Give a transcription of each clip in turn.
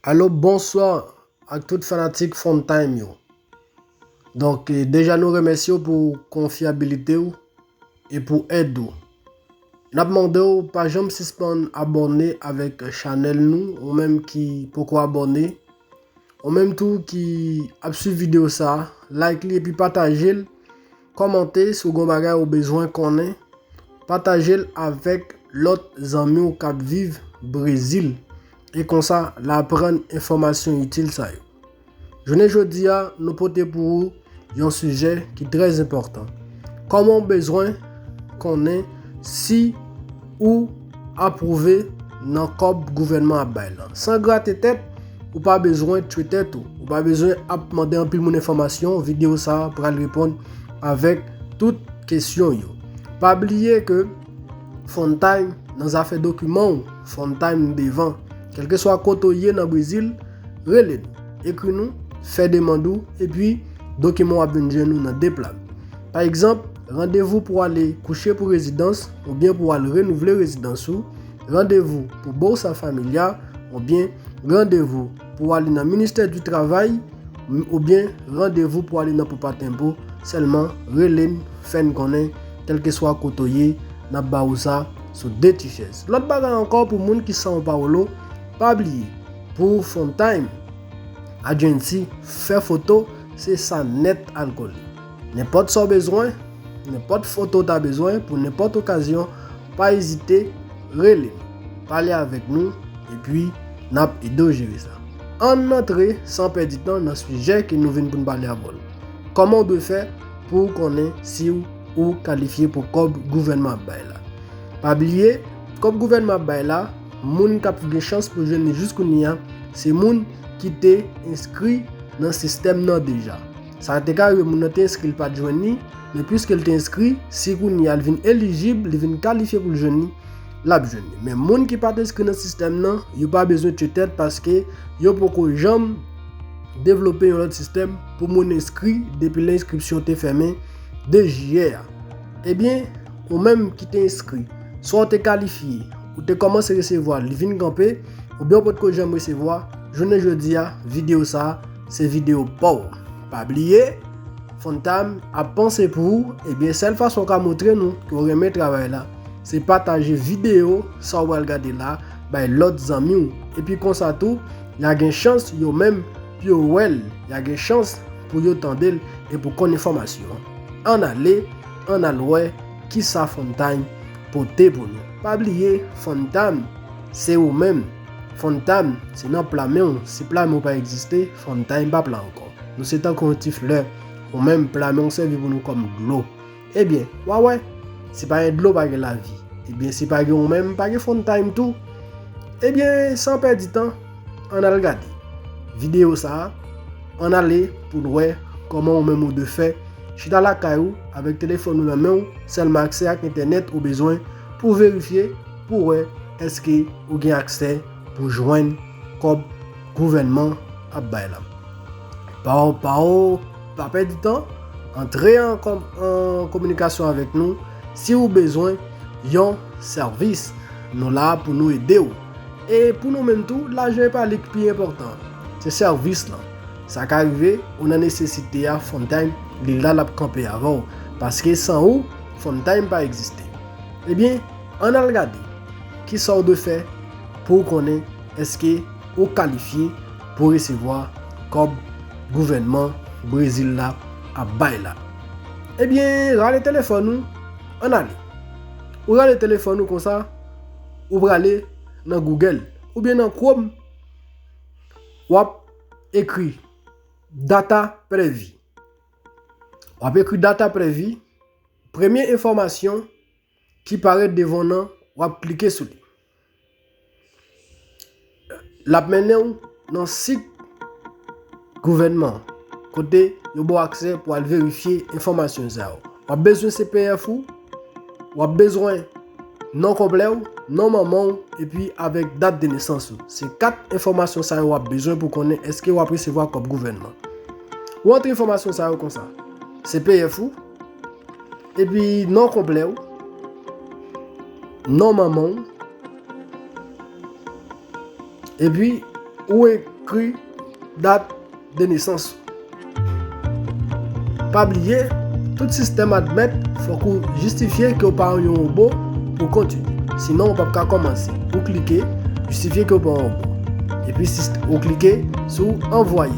Alo bonswa ak tout fanatik Fon Time yo. Donk eh, deja nou remèsye ou pou konfyabilite ou e pou èd ou. Nap mande ou pa janm sispann abòne avèk chanèl nou ou menm ki poko abòne. Ou menm tou ki ap swiv video sa, like li epi pataje l, kòmante si w gen yon bagay ou bezwen konnen, pataje l avèk lòt zanmi w k ap viv Brezil e konsa l aprann enfòmasyon itil sa yo. Jounen jodi a nou pote pou ou Yon sijè ki trè enpòtan. Kòman ou bezwen konnen si ou apwouve nan kòb gouvènman ap bay lan? San grate tèt, ou pa bezwen tchwe tèt ou. Ou pa bezwen ap mande anpil moun enfòmasyon, videyo sa a pral reponn avèk tout kesyon yo. Pa bliye ke Frontime nan zafè dokiman ou, Frontime devan. Kèlkeswa kote ou ye nan Brezil, Rele nou, ekri nou, fè demand ou, epi dokiman w ap vin jwenn ou nan de pla. Pa egzanp, randevou pou ale kouche pou rezidans oubyen pou al renouvle rezidans ou, randevou pou Bolsa Familia, oubyen randevou pou ale nan Ministè di Travay, oubyen randevou pou ale nan Poupa Tempo, sèlman rele n, fè n konnen, kèlkeswa kote w ye, n ap ba ou sa sou de ti chèz. Lòt bagay ankò pou moun ki São Paulo, pa bliye, Pou Funtime, Adjenti fè foto se sa nèt alkole. Nenpòt sa w bezwen, nenpòt foto w ta bezwen pou nenpòt okazyon, pa ezite rele n, pale avèk nou epi n ap ede w jere sa. Ann antre san pèdi tan nan sijè ke nou vin pou n pale avè w. Kòman w dwe fè pou w konnen si w ou kalifye pou kòb gouvènman ap bay la? Pa bliye, kòb gouvènman ap bay la, Moun k ap gen chans pou jwenn li jiskounye a se moun ki te enskri nan sistèm nan deja. Sa te ka rive moun nan te enskri li pa t jwenn li, men piske li te enskri, si kounye a li vin elijib, li vin kalifye pou l jwenn li, l ap jwenn li. Men moun ki pa t enskri nan sistèm nan, yo pa bezwen tye tèt paske yo poko janm devlope yon lòt sistèm pou moun enskri depi lè enskripsyon te fèmen 2 jiyè a. Ebyen, ou menm ki te enskri, swa ou te kalifye, Ou te kòmanse resevwa li vin kanpe oubyen ou potko janm resevwa, jounen jodi a videyo sa se videyo paw. Pa bliye Funtime ap panse pou ou ebyen sèl fason ou ka montre nou ke ou renmen travay la se pataje videyo sa ou pral gade la bay lòt zanmi ou epi konsa tou ya gen chans yo menm pou yo wèl ya gen chans pou yo tandel e pou konn enfòmasyon an ale an al wè Kisa Fun Time pote pou nou? Pa bliye Fun Time se ou menm! Fun Time se nan pla men w, si pla men w pa egziste, Fun Time pa pla ankò. Nou se tankou yon ti flè, ou menm pla men w sèvi pou nou kòm dlo. Ebyen, wa wè! Si pa gen dlo pa gen lavi, ebyen si pa gen ou menm pa gen Fun Time tou! Ebyen, san pèdi tan, Ann al gade videyo sa a, ann ale pou n wè kòman ou menm ou de fè chita lakay ou avèk telefòn ou nan men w, sèlman aksè ak entènèt ou bezwen pou w verifye pou w wè èske ou gen aksè pou jwenn kòb gouvènman ap bay la. Pa pa pa pèdi tan, antre an kominikasyon avèk nou si ou bezwen yon sèvis. Nou la pou nou ede ou. E pou nou menm tou, lajan e pa li ki pi enpòtan an. Se sèvis lan. Sa ka rive, ou nan nesesite a, Funtime, li la l ap kanpe avè w. Paske san ou, Funtime pa egziste. Ebyen, ann al gade ki sa w dwe fè pou w konnen èske ou kalifye pou resevwa kòb gouvènman Brezil la ap bay la. Ebyen, rale telefòn ou, ann ale. Ou rale telefòn ou konsa. Ou prale nan Google ou byen nan Chrome wap ekri data previ. Wap ekri data previ, premye enfòmasyon ki parèt devan w nan wap klike sou li. L ap mennen ou nan sit gouvènman kote yo ba w aksè pou al verifye enfòmasyon sa yo. W ap bezwen CPF ou, w ap bezwen non konplè ou, non manman ou epi avèk dat de nesans ou. Se 4 enfòmasyon sa yo w ap bezwen pou konnen èske w ap resevwa kòb gouvènman. Ou antre enfòmasyon sa yo konsa, CPF ou, epi non konplè ou, non manman ou, Epi ou ekri dat de nesans ou. Pa bliye, tout sistèm admèt fòk ou jistifye ke ou pa yon wobo pou kontinye. Sinon ou p ap ka kòmanse. Ou klike Jistifye ke ou pa yon wobo. Epi ou klike sou Anvwaye.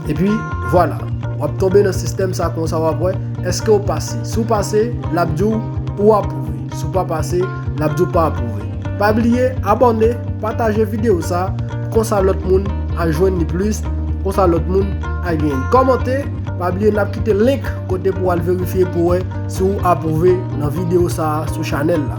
Epi vwala, w ap tonbe nan sistèm sa konsa w ap wè eske ou pase. Si w pase, l ap di w ou apwouve. Si w pa pase. lap di w pa apwouve. Pa bliye abòne, pataje videyo sa, konsa lòt moun a jwenn li plis, konsa lòt moun a genyen l. Kòmante, pa bliye nap kite link kote pou al verifye pou wè si w apwouve nan videyo sa sou chanèl la.